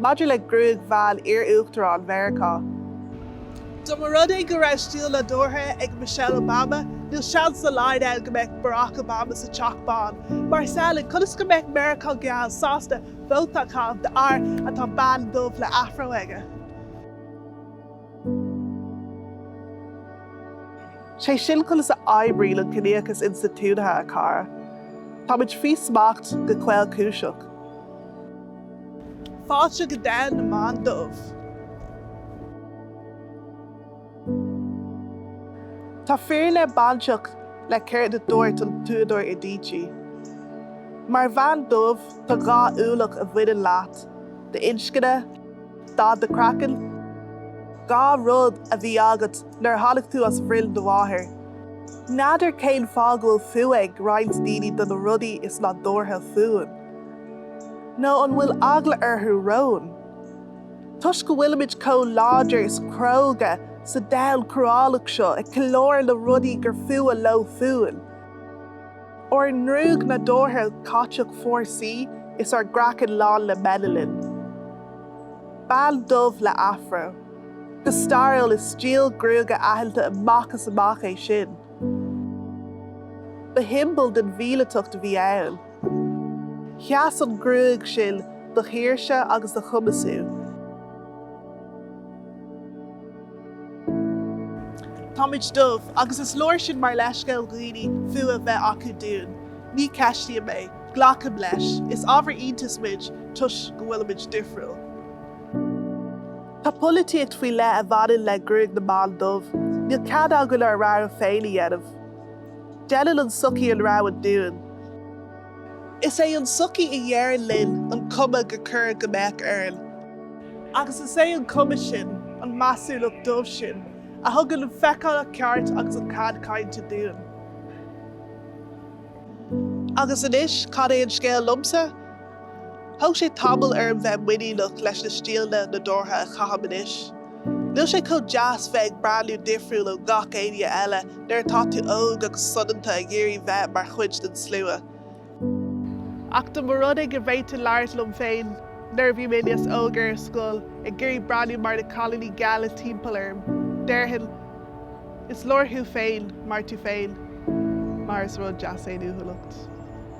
Maidir le gruaig bhean iar-uachtarán Mheiriceá. Dá mba rud é go raibh stíl nádúrtha ag Michelle Obama, níl seans dá laghad ann go mbeadh Barack Obama sa Teach Bán. Mar is amhlaidh, conas go mbeadh Meiriceá geal sásta vóta a chaitheamh d'fhear a tá bean dhubh le afro aige? 'Sé sin conas a oibríonn an ciníochas institiúidithe, a chara. Táimid faoi smacht go caolchúiseach. Fáilte go domhan na mban dubh. Tá fírinne bainteach le céard a dúirt an t-údar Adichie. Mar bhean dhubh, tá dhá ualach a bhaineann leat, d'inscne, dath do chraicinn, dhá rud a bhí agat nuair a tháinig tú as bhroinn do mháthar. N'fheadar cén fáth go bhfuil fuath ag roinnt daoine do na rudaí is nádúrtha fúinn. Nó an bhfuil eagla orthu romhainn? Toisc go bhfuilimid chomh láidir is cróga sa domhan cruálach seo ag ceiliúradh na rudaí gur fuath leo fúinn, ár ngruaig nádúrtha catach fórsaí is ár gcraiceann lán le melanin. Bean dhubh le afro. Go stairiúil is stíl gruaige aitheanta amach is amach é sin. Ba shiombail den mhíleatacht a bhí ann. Sheas an ghruaig sin do shaoirse agus do chumasú. Táimid dubh, agus is leor sin mar leithscéal dhaoine fuath bheith acu dúinn. Ní cheistíonn mé. Glacaim leis. Is ábhar iontais muid toisc go bhfuilimid difriúil. Tá polaitíocht faoi leith a bhaineann le gruaig na mban dubh. Níl cead againn ár rogha féin a dhéanamh. Deineann an tsochaí an rogha dúinn. Is é an tsochaí a deireann linn an cuma gur chóir go mbeadh orainn. Agus is é an cuma sin, an mheasúlacht dubh sin, a thugann an feiceálacht cheart agus an cead cainte dúinn. Agus anois, cad é an scéal liomsa? Thóg sé tamall orm bheith muiníneach leis na stíleanna nádúrtha a chaithim anois. Níl sé chomh deas bheith ag breathnú difriúil ó gach éinne eile nuair atá tú óg agus soineanta ag iarraidh bheith mar chuid den slua. Ach dá mba rud é go bhféadfainn labhairt liom féin nuair a bhí mé níos óige ar scoil, ag iarraidh breathnú mar na cailíní geala timpeall orm. Déarfainn, Is leor thú féin mar tú féin. Mar is rud deas é an uathúlacht.